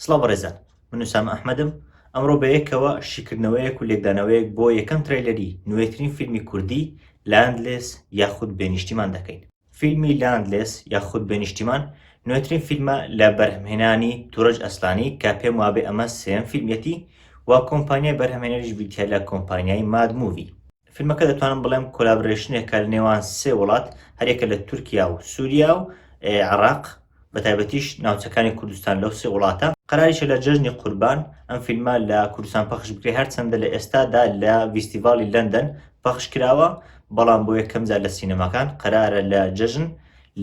سڵاو بەڕێزان من نووسام ئەحمەدم ئەمڕۆ بەیەکەوە شیکردنەوەیەک و لێکدانەوەیەک بۆ یەکەم ترەیلەری نوێترین فیلمی کوردی لاندلێس یاخود بێنیشتیمان دەکەین فیلمی لاندلێس یاخود بێ نیشتیمان نوێترین فیلمە لە بەرهەمهێنانی تورەج ئەسلانی کە پێم وابێ ئەمە سێیەم فیلمیەتی و کۆمپانیای بەرهەمهێنەریش بریتیە لە کۆمپانیای ماد مووی. فیلمەکە دەتوانم بڵێم کۆلابرەیشنێکە لە نێوان سێ وڵات هەریەکە لە تورکیا و سوریا و عێڕاق، بەتایبەتیش ناوچەکانی کوردستان لەو سێ وڵاتە. قەراریشە لە جەژنی قوربان ئەم فیلمە لە کوردستان پەخش بکرێت، هەرچەندە لە ئێستادا لە ڤیستیڤاڵی لەندەن پەخش کراوە، بەڵام بۆ یەکەم جار لە سینەماکان قەرارە لە جەژن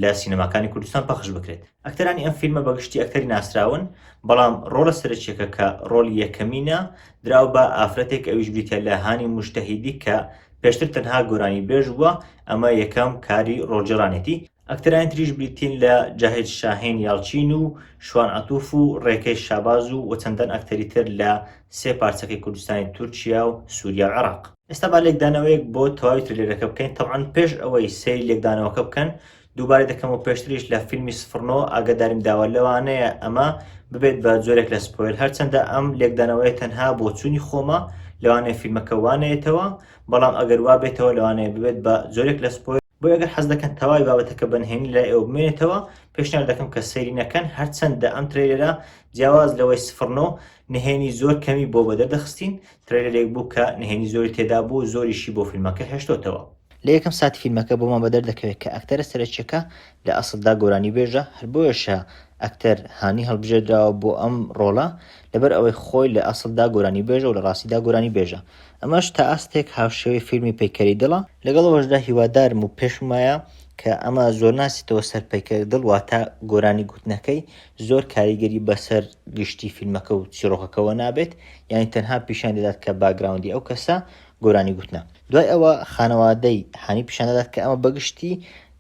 لە سینەماکانی کوردستان پەخش بکرێت. ئەکتەرانی ئەم فیلمە بە گشتی ئەکتەری ناسراون، بەڵام ڕۆڵە سەرەکییەکە کە ڕۆڵی یەکەمینە، دراوە بە ئافرەتێک ئەویش بریتییە لە هانی موجتەهیدی کە پێشتر تەنها گۆرانیبێژ بووە، ئەمە یەکەم کاری ڕۆڵگێڕانێتی. ئەکتەرانی تریش بریتین لە جاهید شاهین یاڵچین و شوان عەتوف و ڕێکەی شاباز و و چەندان ئەکتەری تر لە سێ پارچەکەی کوردستانی تورکیا و سوریا و عێراق. ئێستا با لێکدانەوەیەک بۆ تەواوی ترێلەرەکە بکەین، تەبعەن پێش ئەوەی سەیری لێکدانەوەکە بکەن دووبارەی دەکەم و پێشتریش لە فیلمی سفر نۆ ئاگاداریم داوە لەوانەیە ئەمە ببێت بە جۆرێک لە سپۆیل هەرچەندە ئەم لێکدانەوەیە تەنها بۆچوونی خۆمە لەوانەیە فیلمەکە وانەیەتەوە بەڵام ئەگەر وابێتەوە لەوانەیە ببێت بە جۆرێک لە سپۆیل بۆیە گەر حەز دەکەن تەواوی بابەتەکە بە نهێنی لای ئێوە بمێنێتەوە پێشنیار دەکەم کە سەیری نەکەن هەرچەندە ئەم ترەیلەرە جیاواز لەوەی سفر نۆ نهێنی زۆر کەمی بۆ بەدەر دەخستین ترەیلەرێک بوو کە نهێنی زۆری تێدا بوو زۆریشی بۆ فیلمەکە هێشتۆتەوە لە یەکەم ساتی فیلمەکە بۆمان بەدەر دەکەوێت کە ئەکتەرە سەرەکیەکە لە ئەسڵدا گۆرانی بێژە هەر بۆیەشە ئەکتەر هانی هەڵبژێردراوە بۆ ئەم ڕۆڵە لەبەر ئەوەی خۆی لە ئەسڵدا گۆرانی بێژە و لە ڕاستیدا گۆرانی بێژە ئەمەش تا ئاستێک هاوشێوەی فیلمی پەیکەری دڵە، لەگەڵ ئەوەشدا هیوادارم و پێشم وایە کە ئەمە زۆر ناچێتەوە سەر پەیکەر دڵ واتە گۆرانی گوتنەکەی زۆر کاریگەری بەسەر گشتی فیلمەکە و چیڕۆکەکەوە نابێت یانی تەنها پیشان دەدات کە باگراوندی ئەو کەسە گۆرانی گوتنە دوای ئەوە خانەوادەی هانی پیشان دەدات کە ئەمە بەگشتی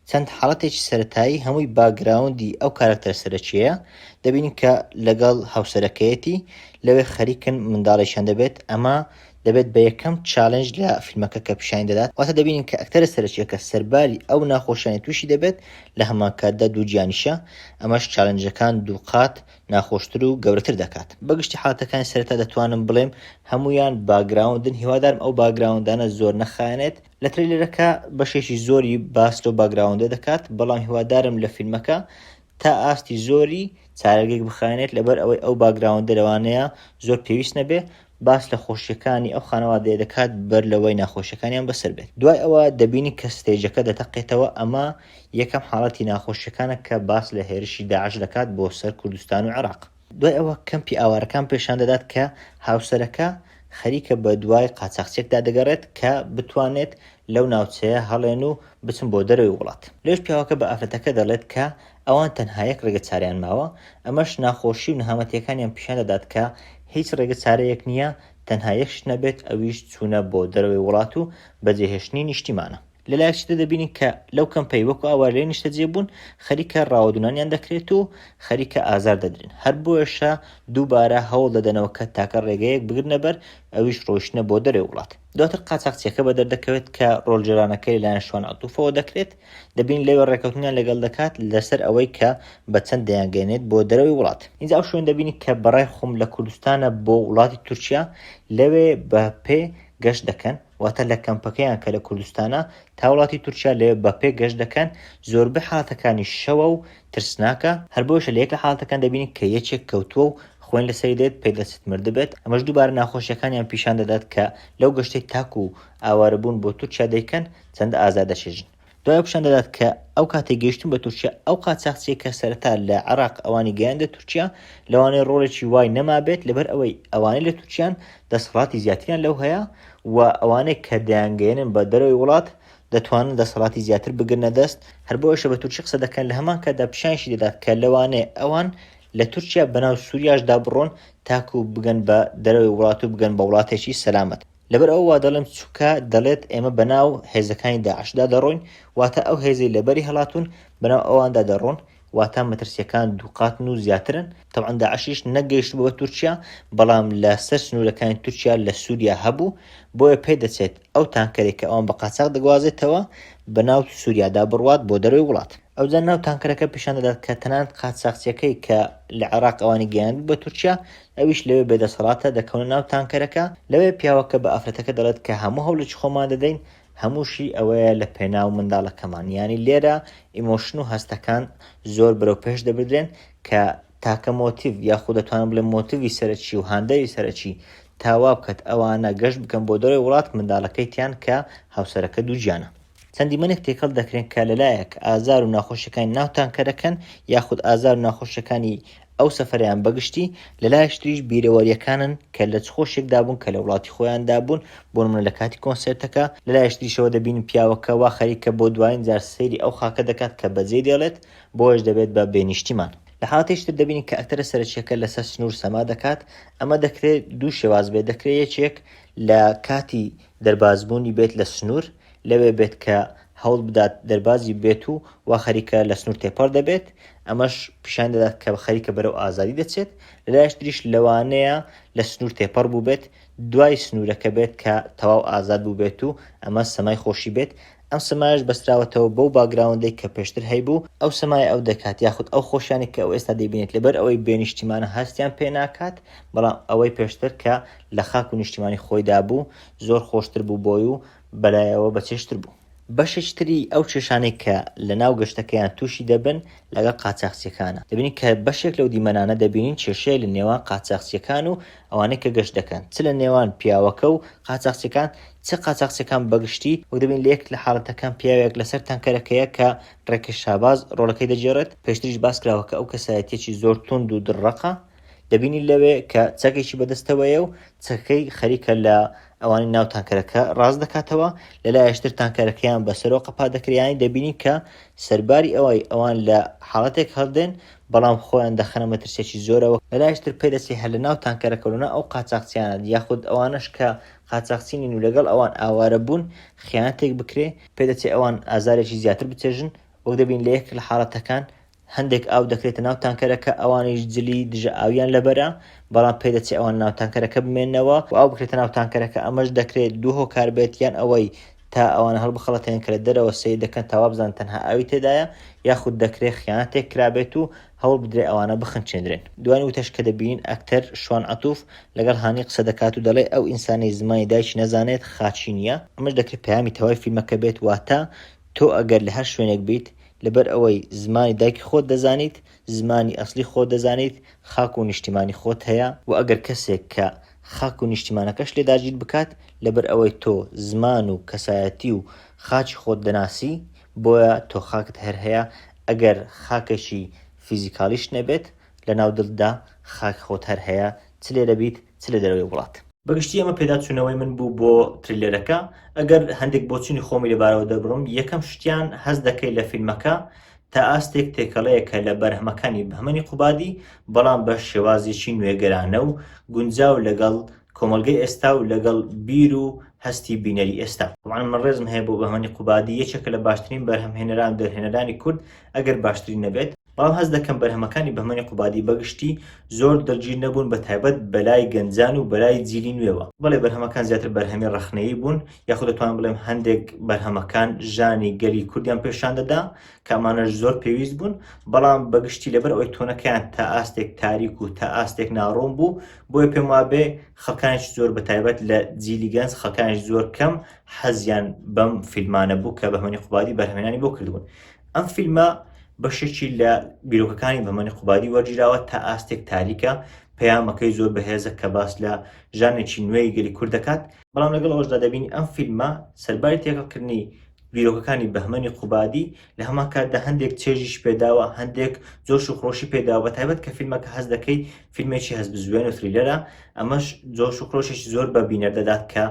چەند حاڵەتێکی سەرەتایی هەمووی باکگراوندی ئەو کارەکتەرە سەرەکیەیە، دەبینین کە لەگەڵ هاوسەرەکەیەتی لەوێ خەریکن منداڵێکیان دەبێت، ئەمە دەبێت بە یەکەم چالێنج لە فیلمەکە کە پیشانی دەدات، واتە دەبینین کە ئەکتەرە سەرەکیەکە سەرباری ئەو ناخۆشیانەی تووشی دەبێت لە هەمانکاتدا دووگیانیشە، ئەمەش چالێنجەکان دووقات ناخۆشتر و گەورەتر دەکات. بەگشتی حاڵەتەکانی سەرەتا دەتوانم بڵێم هەموویان باکگراوندن، هیوادارم ئەو باکگراوندانە زۆر نەخایەنێت، لە ترەیلەرەکە بەشێکی زۆری باس لەو باگراوندە دەکات بەڵام هیوادارم لە فیلمەکە تا ئاستی زۆری چارەگێک بخانێت لەبەر ئەوەی ئەو باگراوندە لەوانەیە زۆر پێویست نەبێ باس لە خۆشیەکانی ئەو خانەوادەیە دەکات بەر لەوەی ناخۆشیەکانیان بەسەر بێت دوای ئەوە دەبینی کە ستێجەکە دەتەقێتەوە ئەمە یەکەم حاڵەتی ناخۆشیەکانە کە باس لە هێرشی داعش دەکات بۆ سەر کوردستان و عێراق دوای ئەوە کەمپی ئاوارەکان پێشان دەدات کە هاوسەرەکە خەریکە بە دوای قاچاخچێکدا دەگەڕێت کە بتوانێت لەو ناوچەیە هەڵێن و بچن بۆ دەرەوەی وڵات لێش پیاوەکە بە ئافرەتەکە دەڵێت کە ئەوان تەنها یەک ڕێگە چارەیان ماوە ئەمەش ناخۆشی و نەهامەتیەکانیان پیشان دەدات کە هیچ ڕێگە چارەیەک نییە تەنها یەک شت نەبێت ئەویش چوونە بۆ دەرەوەی وڵات و بەجێهێشتنی نیشتیمانە لە لایەکی تر دەبینین کە لەو کەمپەی وەکو ئاوارەی نیشتەجێ بوون خەریکە ڕاوەدونانیان دەکرێت و خەریکە ئازار دەدرێن هەر بۆیەشە دووبارە هەوڵ دەدەنەوە کە تاکە ڕێگەیەک بگرنە بەر ئەویش ڕۆیشتنە بۆ دەرەوەی وڵات دواتر قاچاقچیەکە بە دەردەکەوێت کە ڕۆلجێرانەکە لەلایەن شوان عەتوفەوە دەکرێت دەبین لەوێ ڕێکەوتنیان لەگەڵ دەکات لەسەر ئەوەی کە بە چەند دەیانگەێنێت بۆ دەرەوەی وڵات ئینجا ئەو شوێن دەبینی کە بەڕای خۆم لە کوردستانە بۆ وڵاتی تورکیا لەوێ بە پێ گەشت دەکەن واتە لە کەمپەکەیان کە لە کوردستانە تا وڵاتی تورکیا لەوێ بە پێ گەشت دەکەن، زۆربەی حاڵەتەکانیش شەوە و ترسناکە، هەر بۆیەشە لە یەک لە حاڵەتەکان دەبینین کە یەکێک کەوتووە و خوێن لەسەری دێت پێ دەچێت مردبێت، ئەمەش دووبارە ناخۆشییەکانیان پیشان دەدات کە لەو گەشتەی تاکوو ئاوارەبوون بۆ تورکیا دەیکەن چەندە ئازار دەچێژن. دوای ئەو پیشان دەدات کە ئەو کاتێ گەیشتن بە تورکیا ئەو قاچاخچیە کە سەرەتا لە عێراق ئەوانی گەیاندە تورکیا لەوانەیە ڕۆڵێکی وای نەمابێت لەبەر ئەوەی ئەوانەی لە تورکیان دەسەڵاتی زیاتریان لەو هەیە و ئەوانەی کە دەیانگەیەنن بە دەرەوەی وڵات دەتوانن دەسەڵاتی زیاتر بگرنە دەست هەر بۆ ئەوشە بە تورکی قسە دەکەن لە هەمان کاتدا پیشانشی دەدات کە لەوانێ ئەوان لە تورکیا بەناو سووریاشدا بڕۆن تاکوو بگەن بە دەرەوەی وڵات و بگەن بە وڵاتێکی سەلامەت. لەبەر ئەوە وا دەڵێم چونکە دەڵێت ئێمە بەناو هێزەکانی داعشدا دەڕۆین واتە ئەو هێزەی لەبەری هەڵاتون بەناو ئەواندا دەڕۆن واتا مەترسیەکان دووقاتن و زیاترن تەعاان داعشیش نەگەیشت بۆ تورکیا بەڵام لە سەر سنوورەکانی تورکیا لە سووریا هەبوو بۆیە پێ دەچێت ئەو تانکەرێک کە ئەوان بە قاچاق دەگوازێتەوە بە ناو سووریادا بڕوات بۆ دەروی وڵات ئەوجا ناو تانکەرەکە پیشان دەدات کە تەنانەت قاچاقچیەکەی کە لە عێراق ئەوانی گەیاند بە تورکیا ئەویش لەوێ بێ دەسەڵاتە، دەکەونە ناو تانکەرەکە، لەوێ پیاوەکە بە ئافرەتەکە دەڵێت کە هەموو هەوڵێکی خۆمان دەدەین، هەمووشی ئەوەیە لە پێناو منداڵەکەمان، یانی لێرە ئیمۆشن و هەستەکان زۆر بەرەو پێش دەبردرێن کە تاکە مۆتیڤ یاخو دەتوانم بڵێم مۆتیڤی سەرەکی و هاندەری سەرەکی تا وابکات ئەوانە گەشت بکەن بۆ دەرەوەی وڵات منداڵەکەیتیان کە هاوسەرەکە دووگیانە. چەند دیمەنێک تێکەڵ دەکرێن کە لەلایەک ئازار و ناخۆشیەکانی ناو تانکەرەکەن یاخود ئازار و ناخۆشیەکانی ئەو سەفەریان بەگشتی لەلایەک تریش بیرەوەریەکانن کە لە چ خۆشێکدا بوون کە لە وڵاتی خۆیاندا بوون بۆ نمونە لە کاتی کۆنسێرتەکە لەلایەک تریشەوە دەبین پیاوەکە وا خەریکە بۆ دوایین جار سەیری ئەو خاکە دەکات کە بەجێی دێڵێت بۆیەش دەبێت بە بێ نیشتیمان. لە حاڵەتێکی تر دەبینین کە ئەکتەرە سەرەکیەکە لەسەر سنوور سەما دەکات ئەمە دەکرێت دوو شێواز بێت دەکرێت یەکێک لە کاتی دەربازبوونی بێت لە سنوور، لەوێ بێت کە هەوڵ بدات دەربازی بێت و وا خەریکە لە سنوور تێپەڕ دەبێت، ئەمەش پیشان دەدات کە خەریکە بەرەو ئازادی دەچێت، لە لایەکی تریش لەوانەیە لە سنوور تێپەڕ بووبێت، دوای سنوورەکە بێت کە تەواو ئازاد بووبێت و ئەمە سەمای خۆشی بێت، ئەم سەمایەش بەستراوەتەوە بەو باکگراوندەی کە پێشتر هەیبوو، ئەو سەمایە ئەو دەکات، یاخود ئەو خۆشیانەی کە ئەو ئێستا دەیبینێت، لەبەر ئەوەی بێ نیشتیمانە هەستیان پێ ناکات، بەڵام ئەوەی پێشتر کە لە خاک و نیشتیمانی خۆیدا بوو، زۆر خۆشتر بوو بۆی و بەلایەوە بەچێژتر بوو. بەشێکی تری ئەو کێشانەی کە لە ناو گەشتەکەیان تووشی دەبن لەگەڵ قاچاخچییەکانە، دەبینین کە بەشێک لەو دیمەنانە دەبینین کێشەیە لە نێوان قاچاخچییەکان و ئەوانەی کە گەشت دەکەن چ لە نێوان پیاوەکە و قاچاخچیەکان چ قاچاخچیەکان بە گشتی وەک دەبین لە یەک لە حاڵەتەکان پیاوێک لەسەر تانکەرەکەیە کە ڕێکش شاباز ڕۆڵەکەی دەگێڕێت پێشتریش باس کراوە کە ئەو کەسایەتیەکی زۆر توند و دڕەقە دەبینی لەوێ کە چەکێکی بەدەستەوەیە و چەکەی خەریکە لە ئەوانی ناو تانکەرەکە ڕاست دەکاتەوە لە لایشتر تانکەرەکەیان بەسەرۆ قەپا دەکریانی دەبینی کە سەرباری ئەوەی ئەوان لە حاڵەتێک هەڵدێن بەڵام خۆیان دەخەنە مەترسیەکی زۆرەوە، لەلایش تر پێدەچێ هەر لە ناو تانکەرەکەو لە ناو ئەو قاچاخچیانە یاخود ئەوانەش کە قاچاخچی نین و لەگەڵ ئەوان ئاوارە بوون خیانەتێک بکرێ، پێدەچێ ئەوان ئازارێکی زیاتر بچێژن، وەک دەبین لە یەکێک لە حاڵەتەکان هەندێک ئاو دەکرێتە ناو تانکەرەکە ئەوانیش جلی دژە ئاویان لەبەرە، بەڵام پێدەچێ ئەوان لە ناو تانکەرەکە بمێنەوە و ئاو بکرێتە ناو تانکەرەکە ئەمەش دەکرێ دوو هۆکار بێت یان ئەوەی تا ئەوانە هەڵبخەڵەتێن کە لە دەرەوە سەیر دەکەن تا وابزان تەنها ئاوی تێدایە یاخود دەکرێ خیانەتێک کرابێت و هەوڵ بدرێ ئەوانە بخنچێندرێن دوای وتەش کە دەبینین ئەکتەر شوان عەتوف لەگەڵ هانی قسە دەکات و دەڵێ ئەو ئینسانەی زمانی دایکی نەزانێت خاچی نیە ئەمەش دەکرێ پەیامی تەوای فیلمەکە بێت واتە تۆ ئەگەر لە هەر شوێنێک بیت لەبەر ئەوەی زمانی دایکی خۆت دەزانیت زمانی ئەسڵی خۆت دەزانیت خاک و نیشتیمانی خۆت هەیە وە ئەگەر کەسێک کە خاک و نیشتیمانەکەشت لێ داگیر بکات، لەبەر ئەوەی تۆ زمان و کەسایەتی و خاکی خۆت دەناسی، بۆیە تۆ خاکت هەر هەیە، ئەگەر خاکێکی فیزیکالیشت نەبێت، لەناو دڵتدا خاک خۆت هەر هەیە، چ لێرە بیت، چ لە دەرەوەی وڵات. بەگشتی ئەمە پێداچوونەوەی من بوو بۆ تریلەرەکە، ئەگەر هەندێک بۆچوونی خۆمی لەبارەوە دەربڕم، یەکەم شتیان هەست دەکەی لە فیلمەکە تا ئاستێک تێکەڵەیە کە لە بەرهەمەکانی بەهمەنی قوبادی بەڵام بە شێوازێکی نوێگەرانە و گونجاو لەگەڵ کۆمەڵگەی ئێستا و لەگەڵ بیر و هەستی بینەری ئێستا. تەبعەن من ڕێزم هەیە بۆ بەهمەنی قوبادی یەکێکە لە باشترین بەرهەمهێنەران و دەرهێنەرانی کورد ئەگەر باشترین نەبێت، بەڵام هەست دەکەم بەرهەمەکانی بەهمەنی قوبادی بە گشتی زۆر دڵگیر نەبوون بە تایبەت بەلای گەنجان و بەلای جیلی نوێوە، بەڵێ بەرهەمەکان زیاتر بەرهەمی ڕەخنەیی بوون یاخود دەتوانم بڵێم هەندێک بەرهەمەکان ژانی گەلی کوردیان پێشان دەدا کە ئەمانەش زۆر پێویست بوون بەڵام بەگشتی لەبەر ئەوی تۆنەکەیان تا ئاستێک تاریک و تا ئاستێک ناڕۆم بوو بۆیە پێم وابێ خەکانش زۆر بەتایبەت لە جیلی گەنج خەکانش زۆر کەم حەزیان بەم فیلمانە بوو کە بەهمەنی قوبادی بەرهمێنانی بۆ کردبوون ئەم فیلمە بەشێکی لە بیرۆکەکانی بەمەنی قوبادی وەرگیراوە تا ئاستێک تاریکە پەیامەکەی زۆر بەهێزە کە باس لە ژانێکی نوێی گەلی کورد دەکات بەڵام لەگەڵ ئەوشدا دەبینی ئەم فیلمە سەرباری تێکەڵکردنی بیرۆکەکانی بەهمەنی قوبادی لە هەمان کاتدا هەندێک چێژیش پێداوە هەندێک جۆش و خۆشی پێداوە بە تایبەت کە فیلمەکە هەز دەکەی فیلمێکی هەز بزوێن و فریلەرە ئەمەش جۆش و خۆشێکی زۆر بە بینەر دەدات کە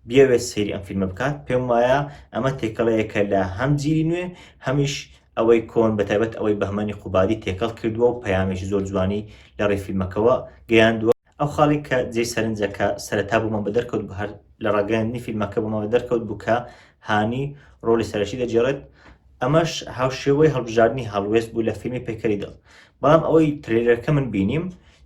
بیاوێت سەیری ئەم فیلمە بکات پێم وایە ئەمە تێکەڵەیەکە لە هەم جیری نوێ هەمیش ئەوەی کۆن بە تایبەت ئەوەی بەهمەنی قوبادی تێکەڵ کردووە و پەیامێکی زۆر جوانی لە ڕێ فیلمەکەەوە گەیاندووە ئەو خاڵی کە جێی سەرنجە کە سەرەتا بۆمان بە دەرکەوت بوو هەر لە ڕاگەیاندنی فیلمەکە بۆمان بە دەرکەوت بوو کە هانی ڕۆڵی سەرەکی دەگێڕێت ئەمەش هاوشێوەی هەڵبژاردنی هەڵوێست بوو لە فیلمی پەیکەری دڵ بەڵام ئەوەی ترێلەرەکە من بینیم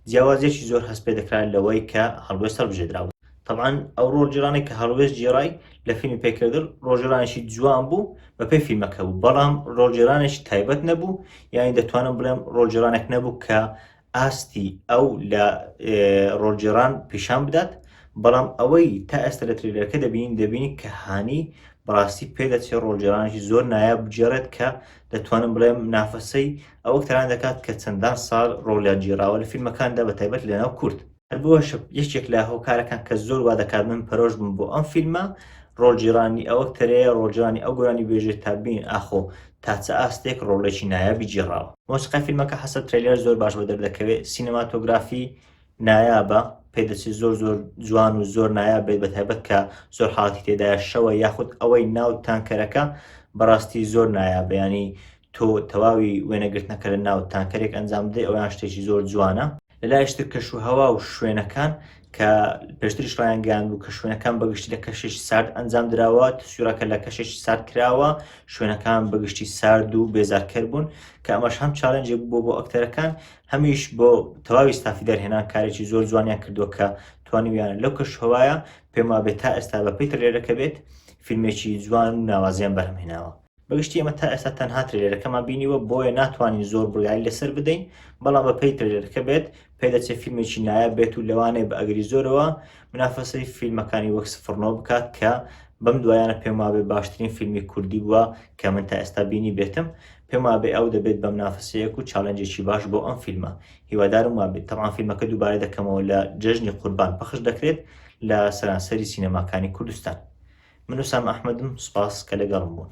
جیاوازیەکی زۆر هەست پێ دەکرا لەوەی کە هەڵوێست هەڵبژێدرا بوو طبعاً ئەو ڕۆژجیرانی کە هەڵوێست جێڕای لە فیلمی پێکردل ڕۆژرانێکی جوان بوو بەپێی فیلمەکە بوو بەڵام ڕۆژجیرانێکی تایبەت نەبوو یانی دەتوانم بڵێم ڕۆژجیرانێک نەبوو کە ئاستی ئەو لە ڕۆلجێڕان پیشان بدات، بەڵام ئەوەی تا ئێستا لە ترێلەرەکە دەبینین دەبینین کە هانی بەڕاستی پێدەچێت ڕۆلجێڕانێکی زۆر نایاب بگێڕێت کە دەتوانم بڵێم نافەسەی ئەو ئەکتەران دەکات کە چەندان ساڵ ڕۆلیان گێڕاوە لە فیلمەکاندا بە تایبەت لەناو کورد. هەر بۆشە یەکێک لە هۆکارەکان کە زۆر وا دەکات من پەرۆش بم بۆ ئەم فیلمە ڕۆژجیرانی ئەوەک تەرەیە ڕۆژانی ئەو گۆرانی بێژێت تا بین ئاخۆ تاچە ئاستێک ڕۆڵێکی نایابی جێڕاوە مۆسیقا فیلمەکە حەسە ترەیلەر زۆر باش بە دەردەکەوێت سینەماتۆگرافی نایابە پێدەچێت زۆر زۆر جوان و زۆر نایاب بێت بە تایبەت کە زۆر حاڵاتی تێدایە شەوە یاخود ئەوەی ناو تانکەرەکە بەڕاستی زۆر نایابیانی تۆ تەواوی وێنەگرتنەکە لە ناو تانکەرێک ئەنجام بدەی ئەویان شتێکی زۆر جوانە. لە لایشتر کەش و هەوا و شوێنەکان کە پێشتریش ڕایانگەیاند بوو کە شوێنەکان بەگشتی لە کەشێکی سارد ئەنجام دراوە تسویرەکە لە کەشێکی سارد کراوە شوێنەکان بەگشتی سارد و بێزارکەر بوون کە ئەمەش هەم چالنجێک بووە بۆ ئەکتەرەکان هەمیش بۆ تەواوی ستافی دەرهێنان کارێکی زۆر جوانیان کردووە کە توانیویانە لەو کەش هەوایە پێما بێت تا ئێستا بە پێی ترلێرەکە بێت فیلمێکی جوان و ناوازیان بەرهەمهێناوە بەگشتی ئێمە تا ئێستا تەنها ترێلەکەمان بینیوە بۆیە ناتوانین زۆر بڕیاری لەسەر بدەین بەڵام بە پێی ترێلەکە بێت پێدەچێت فیلمێکی نایە بێت و لەوانەیە بە ئەگری زۆرەوە منافەسەی فیلمەکانی وەک سفرنەوە بکات کە بەم دوایانە پێم وابێ باشترین فیلمی کوردی بووە کە من تا ئێستا بینی بێتم پێم وابێ ئەو دەبێت بەم نافەسەیەک و چاالنجێکی باش بۆ ئەم فیلمە هیوادارم وابێت تەوان فیلمەکە دووبارە دەکەمەوە لە جەژنی قوربان پەخش دەکرێت لە سەرانسەری سینەماکانی کوردستان من وسام ئەحمەدم سوپاس کە لەگەڵم بوون.